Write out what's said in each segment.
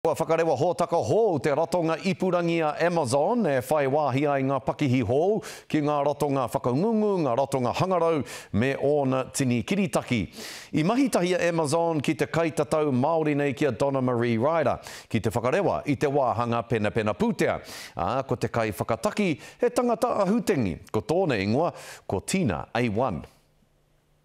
Kua whakarewa hōtaka hou te ratonga ipurangi a Amazon e whai wāhi ai ngā pakihi hou ki ngā ratonga whakangungu, ngā ratonga hangarau, me ōna tini kiritaki. I mahi tahi a Amazon ki te kaitatau Māori nei ki a Donna Marie Ryder ki te whakarewa i te wāhanga penapena pūtea, ā, ko te kaiwhakataki he tangata ahutengi, ko tōna ingoa ko Tina Awan.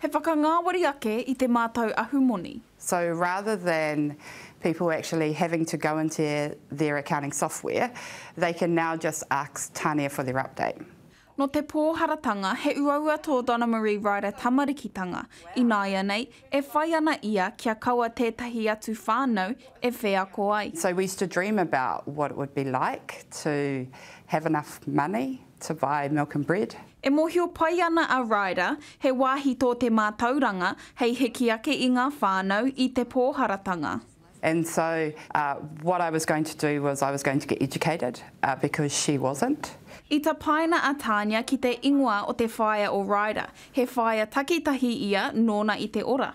He whakangāwari ake i te mātau ahumoni. So rather than people actually having to go into their accounting software, they can now just ask Tania for their update. Nō te pōharatanga, he uaua tō Donnamarie Ryder tamarikitanga, ināianei, e whai ana ia kia kaua tētahi atu whānau e wheako ai. So we used to dream about what it would be like to have enough money. To buy milk and bread. E mōhio pai ana a Ryder, he wāhi tō te mātauranga hei hiki ake i ngā whānau i te pōharatanga. And so what I was going to do was I was going to get educated because she wasn't. I tapaina a Tania ki te ingoa o te whaea o Ryder, he whaea takitahi ia nōna i te ora.